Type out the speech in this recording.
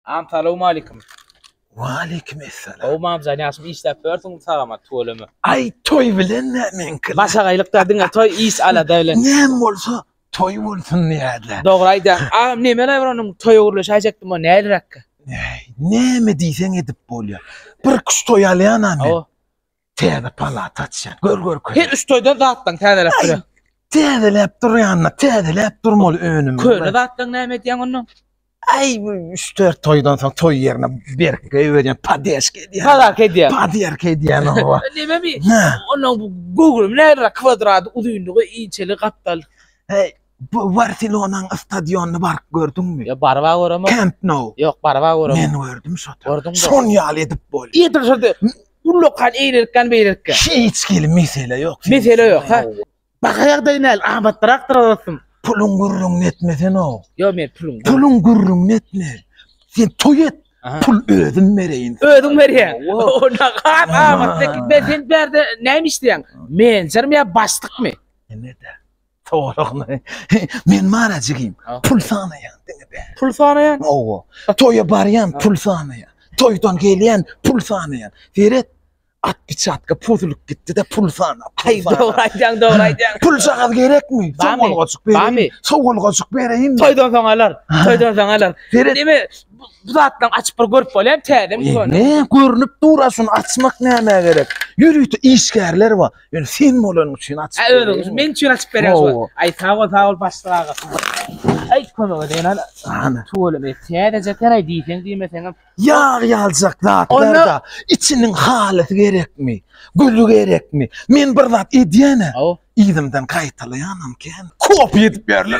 Am salawma aleykum. Waleýkim esselam. Gowy mamjan ýagşymy işläp ýörsüň sagama tüweleme. Aý toý bilen nämeňki? Başagaýlykda diňe toý iş alada bilen. Näme bolsa toý bolsun diýýärler. Dogry aýdýaň. Agam nemeler bar onuň toýa gürleşäýjekdim o näliräkkä? Näý, näme diýseň edip bolýar. Bir kuş toý alýan-a men. Hawa. Täze palata açýan. Gör gör köne. Her üç toýda zatlaň täzeläp Ay. durýar. Täzeläp durýanna, täzeläp durmaly önüm. Köne zatlaň näme edýäň onda? Ay bu üç dört toýdan soň toý ýerine berkge öwürýän, padeşka edýän. Pazarka edýär. Padyerka edýän owa. Neme mi? Hä. Ondan bu göwrüm nära kwadrady uzynlygy inçeli gapdal. Hey, bu Barselonanyň stadionyny baryp gördüňmi? Ya barba göremok. Camp Nou. Yok barba göremok. Men gördüm şo. Gördüň mi? Şon ýaly edip bolýar. Ýetir şurada. Ullakan eýlelikden beýlelikge. Hiç hili mesele ýok. Mesele ýok, ha. Baka ýagdaý näl? Abat traktor alasym. Puluň gürrüňini etme sen o. Ýok, men pulum. Puluň gürrüňini etme. Sen toý et. Pul özüm bereýin. Özüň berýä. O ne gat amatly. Men sen bärde näme işleýäň? Menjermi ýa başlykmy? Näme-de? Towalakly. Men mara jigim. Pul sanaýan diňe bä. Pul sanaýan? Owa. Toýa barýan pul sanaýan. Toýdan gelýän pul sanaýan. Seret. At biçatka puzulyp gitdi-de pul sanap. Aý dogry aýdýaň, dogry aýdýaň. Pul jagaz gerekmi? Sowalgajyk bereýin. Sowalgajyk bereýin. Toýdan soň alar. Toýdan soň alar. Seret. Eme bu zatlaryny açyp bir görüp bolýamy täzemi? Ne görnüp dur aşuny açmak nämä gerek? Ýörite işgärler bar. Ýöne sen bolanyň üçin açyp Ha özüň üçin men üçin açyp berýän şu. Aý sag bol, sag bol başlyk aga. Aý kömek edýän ana. Ana. Tuweleme täzeje teräý diýseň diýmeseňem. Ýag ýaljak zatlarda içiniň halysy gerekmi? Güli gerekmi? Men bir zat edýän-ä. Yzymdan gaýtalaýanam kän. Kopy edip ýörler.